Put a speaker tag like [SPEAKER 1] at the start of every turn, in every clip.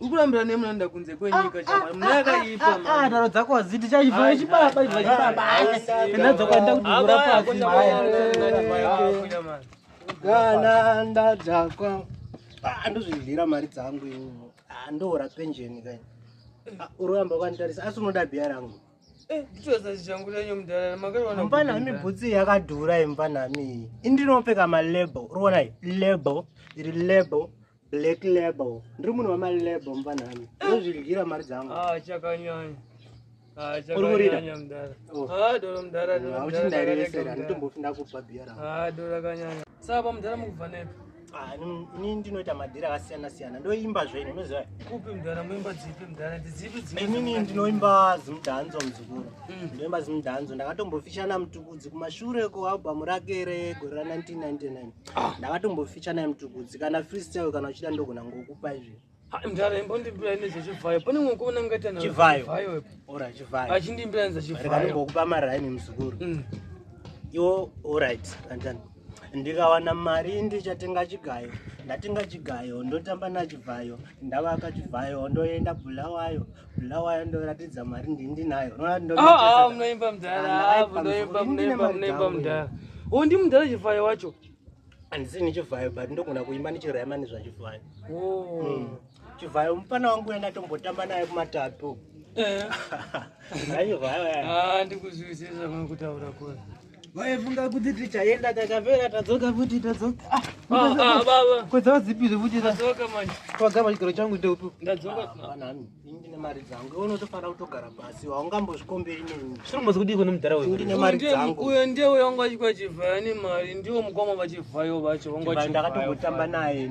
[SPEAKER 1] ukurambira ne munanda kunze kwenyika ah, chama ah, munaka ah, ipa ah daro dzako aziti chaiva chibaba iva chibaba ndadzo kwenda kuti gura pasi maya kana ndadzakwa andozvidlira mari dzangu iwo andoora pension kai uramba kwanditarisa asi unoda biya rangu eh, mpanami bhutsi yakadhura impanami indinopfeka malabel urionai label iri label Black label. Ndiri munhu wama label mvanhani. Ndozvidyira mari dzangu. Ah, chakanyanya. Ah, chakanyanya mdara. Oh. Ah, dolo mdara, dolo mdara. Uchindairevesera, nditombofi ndakupa beer rangu. Ah, dolo kanyanya. Saba mdara mukubva nepi? Ah, ini ndinoita madhira akasiyana siyana. Ndoimba zvenyu, unoziva? Kupi mdara, muimba dzipi mdara? Dzipi dzipi? Inini ndinoimba zimdanzo mzukuru. Mm. Ndinoimba zimdanzo. Ndakatombofishana mutukudzi kumashure ko album rake regore ra 1999. ah. ndakatomboficha naye mtukudzi kana freestyle kana uchida ndogona ngokupa izvi mdara imbondimbira nezve chivhayo pane mwe kuona ngaita na chivhayo ora chivhayo achindimbira nza chivhayo ngokupa maraini mzukuru mm. iwo alright kantani ndikawana mari ndichatenga chigayo ndatenga chigayo ndotamba nachivhayo ndavaka chivhayo ndoenda bulawayo Ndawaya ndoratidza mari ndinayo. Unoona ndo. Ah, ah munoimba mudhara. Ah, munoimba munoimba munoimba mudhara. Oh, ndi mudhara chivhayo wacho. Andisi ni chivhayo but ndogona kuimba ni chirema ni zva chivhayo. Oh. Hmm. Chivhayo mupana wangu yanga tombotamba naye kumatatu. Eh. Ayo vaya. Ah, ndikuzwisisa kutaura kwa. vaifunga kuti tichaenda takapera tadzoka futi tadzoka ah, ah, ah, baba kwedzawo zipi zvekuti tadzoka manje twagama chigaro changu ndeutu ndadzoka hapana hami ini ndine mari dzangu iwe unotofanira kutogara pasi haungambozvikomberi neni zviri mbozi kudii kune mudhara wewe ndine mari dzangu uyo ndiye uyo wanga achikwa chivhaya nemari ndiwo mukoma vachivhayo vacho wanga achivhayo ndakatongotamba naye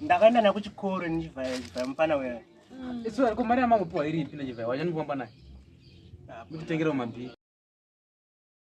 [SPEAKER 1] ndakaenda naye kuchikoro nechivhaya chivhaya mufana weya mm. isu ariko mari yamangopiwa iri ipi nechivhaya wachanikwamba naye muchitengerewo mabhii